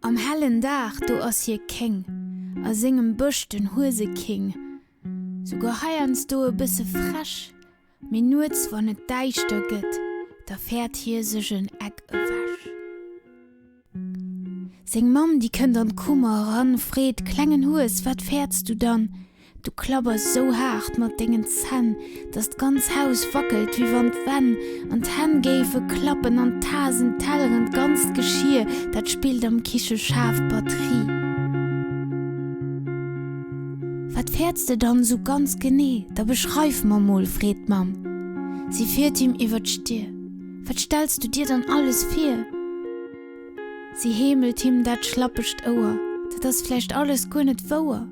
Am hellen Dag do ass hie Kéng, a sengem Bësch den Hueseking. Souguer heiansdo e bësse frech, mee nuets wann et däischter gëtt, da fäert hie sech en Eck ewech. Seng Mamm, déi kënnt an d'Kummer eran, freet, Klengen Hues, wat fäerts du dann? Du klabbers sou haart mat dengen Zänn, dass d'ganz Haus wackelt, wéi wann d'Wänn an d'Hänn géife klappen an d'Tasen, d'Telleren, d'ganzt Geschir, dat spillt am Kiche schaarf Batterie. Wat fäerts de dann sou ganz genee? Da beschreif mer mol, freet d'Mamm. Si fiert him iwwer d'Stir. Wat stells du dir dann alles vir? Si heemelt him dat schlappegt Ouer, Dat ass vläicht alles guer net wouer.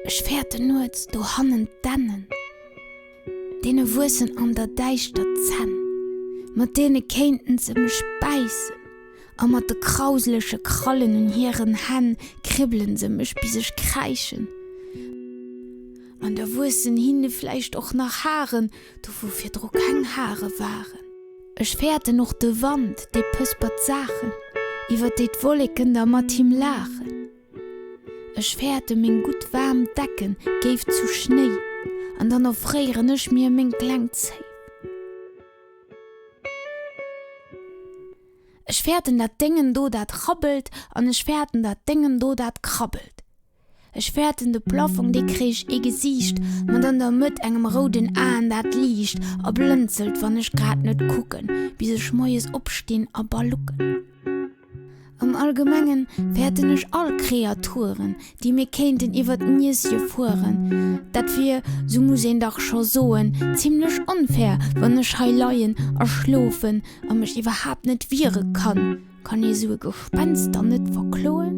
Ech fäerte nuets dohannen d'Dännen, Deene wuessen an der Däischter d'Zänn, Mat deene kéinten se mech bäissen, A mat de krauseleche Krallen un hiren Hänn Kribbele se mech, bis ech kräischen. An da wuessen hinne vläicht och nach Haren, do wou virdru keng Hare waren. Ech fäerten och de Wand, dee pëspert d'Saachen, iwwer déi d'Wolleken da mat him laachen. Ech fäerte meng gutt waarm Decken, géif zu Schnéi, an dann erfréieren ech mir meng kleng Zéi. Ech fäerten dat Déngen do, dat rabbelt, an ech fäerten dat Déngen do, dat krabbelt. Ech fäerten de Plaffong, dee kréich ee Gesiicht, mat an der Mëtt engem rouden Aen, dat liicht a blënzelt, wann ech grad net kucken, bis ech moies opstinn a balucken. Am Allgemengen fäerten ech all Kreaturen, déi mir kéinten iwwer d'Nieschen fueren. Dat wier, sou muss een dach scho soen, zimlech onfair, wann ech hei leien a schlofen a mech iwwerhaapt net wiere kann, Kann ee sou e Gespenster net verkloen?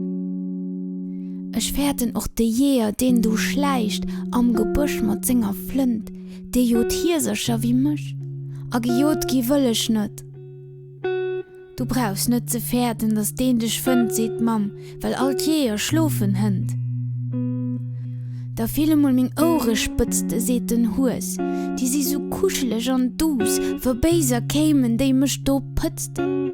Ech fäerten och de Jeeër, deen do schläicht am Gebësch mat senger Flënt, dee jot Hiesercher wéi mech. A gejot gi wëll ech net. Du brauchs net ze fäerten, datt deen dech fënnt, seet d'Mamm, well all d'Jeeër schlofen hënt. Da fill emol meng Ouerespëtzte, seet den Hues, déi si sou kuscheleg an duuss, wou Béiser kéimen, déi mech do pëtzten.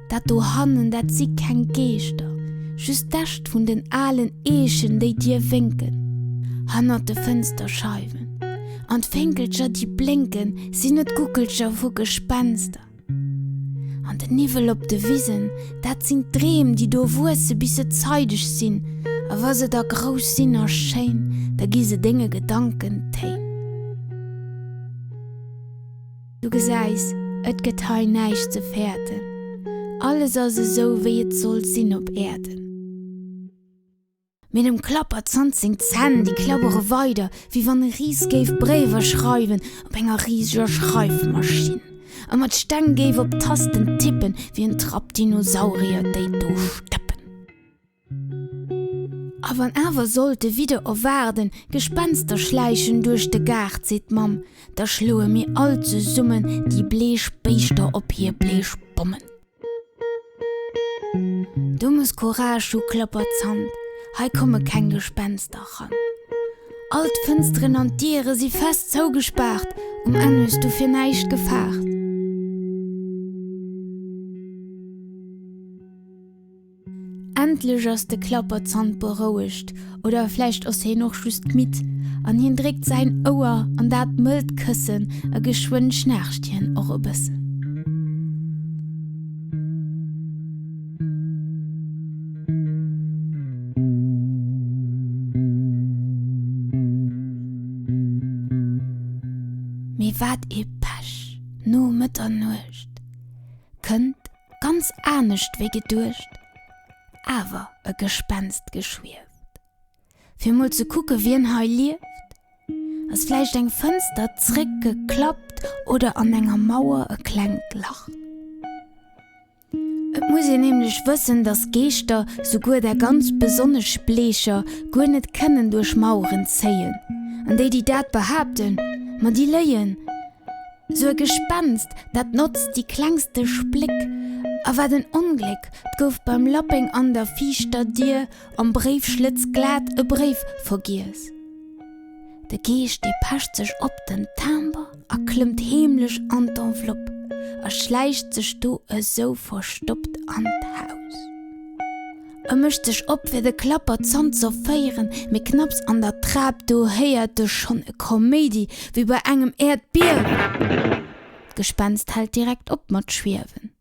Dat dohannen, dat si keng Geeschter, just d'Äscht vun den alen Eechen, déi dir wénken. Hannert de Fënsterscheiwen an d'Fénkelcher, déi blénken, sinn et Guckelcher vu Gespenster. An den Niwwel op de Wisen, dat sinn d'Dreem, déi do wuesse bis se zeideg sinn, a wa se da grouss sinn a schéin, da gi se denge Gedanken Téin. Du gesäis, et gëtt hei näischt ze fäerten, alles ass esou wéi et soll sinn op Äerden. Mee dem Klapper zannt seng Zänn, déi klabbere weider, wéi wann e Ris géif Bréiwer schreiwen op enger riseger Schreifmaschinn a mat Steng géif op Tasten tippen, wéi en Trapp Dinosaurier, déi do stëppen. A wann awer sollt de Widder erwaarden, Gespenster schläichen duerch de Gaart, seet d'Mamm, da schloe mir all zesummen déi bleech Béischter op hir bleech Bommen. Du muss Courage hu, klappert Zant, hei komme keng Gespenster ran. All d'Fënsteren an d'Diere si fest zougespaart, um Enn hues du fir näischt gefaart. Endlech ass de Klapperzant berouegt, oder vläicht ass hien och just midd, an hien dréckt säin Ouer an dat mëllt Këssen a geschwënn schnaarcht hien och e bëssen. Mee wat ee Pech! No Mëtternuecht kënnt ganz anescht wéi geduecht, awer e Gespenst geschwieft. Fir mol ze kucke wien hei lieft, ass vläicht eng Fënster zréck geklappt oder an enger Mauer e klengt Lach. Et muss een nämlech wëssen, datt Geeschter, souguer där ganz besonnesch bleecher, guer net kënnen duerch Maueren zéien. An déi, déi dat behaapten, ma déi léien. Sou e Gespenst, dat notzt déi klengste Spléck. A wat en Ongléck, 't gouf beim Lappeng an der viischter Dier am Bréifschlëtz glat e Bréif vergiess. De Geescht depecht sech op den Timbre a klëmmt heemlech an d'Enveloppe a schläicht sech do esou verstoppt an d'Haus. E mécht sech op fir de Klapper z'entzerféieren, mee knapps an der Trap do héiert e schonn e Kaméidi wéi bei engem Äerdbiewen. D'Gespenst hält direkt op mat schwiewen.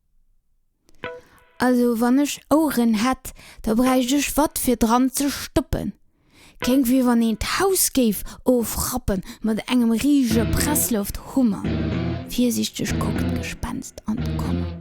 Also wann ech Oueren hätt, da bräicht ech wat fir dran ze stoppen. Kéng wéi wann een d'Haus géif ofrappe mat engem riesege Pressluft-Hummer. Virsiichteg kuckt d'Gespenst an d'Kommel.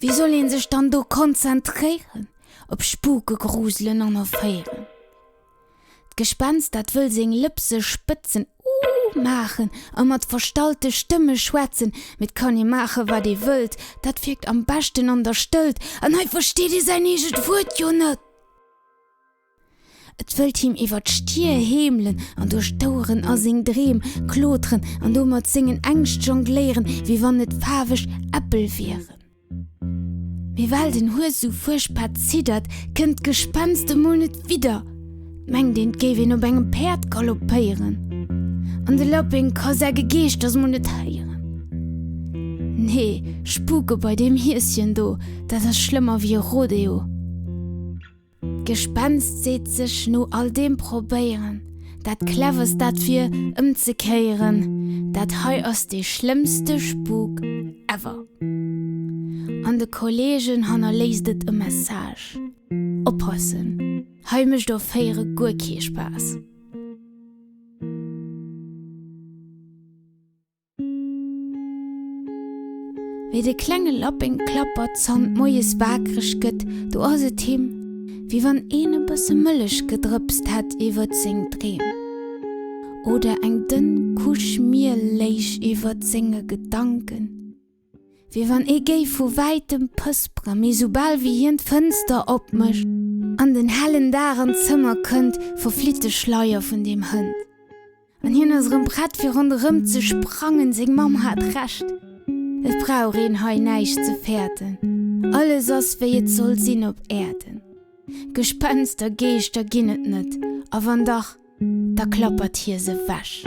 Wéi soll een sech dann do konzentréieren op Spuke gruselen an erféieren? D'Gespenst, dat wëll seng Lëps sech spëtzen, Uuh! maachen a mat verstallte Stëmme schwätzen, mee 't kann ee maache wat ee wëllt, dat wierkt am beschten an der Stëllt, an hei versteet ee säin eegent Wuert jo net! Et wëllt him iwwer d'Stier heemelen an duerch d'Oueren a seng Dreem kloteren an do mat sengen Ängscht jongléieren, wéi wann et faarweg Äppel wieren. Mee well den Hues esou fuerchtbar ziddert, kënnt d'Gespenst emol net widder. Et mengt een, et géif een op engem Päerd galoppéieren. An de Lappeng ka säi Gegeeschters mol net héieren. Nee, spuke bei deem Hieschen do, dat ass schlëmmer wéi e Rodeo. D'Gespenst seet sech no all deem probéieren, dat Cleverst dat wier, ëmzekéieren, Dat hei ass dee schlëmmste Spuk ever! An de Kolleegen hannerléisst et e Message, Oppassen, hei mécht Offéiere guer kee Spaass! Wéi de klenge Lappeng klappert, zannt moies waakreg gëtt, do ass et him, wéi wann een e bësse Mëllech gedrëpst hätt iwwert seng Dreem oder eng dënn Couche Miel léich iwwert senge Gedanken. Wéi wann ee géif vu wäitem pëspere mee soubal wéi hien d'Fënster opmécht an den hellen Dag an d'Zëmmer kënnt, verflitt de Schleier vun deem Hënt an hien ass erëm prett fir ronderëm ze sprangen. Seng Mamm hat Recht, et brauch een hei näischt ze fäerten, alles ass wéi et soll sinn op Äerden. Gespenster, Geeschter ginn et net a wann dach, da klappert hie se wech.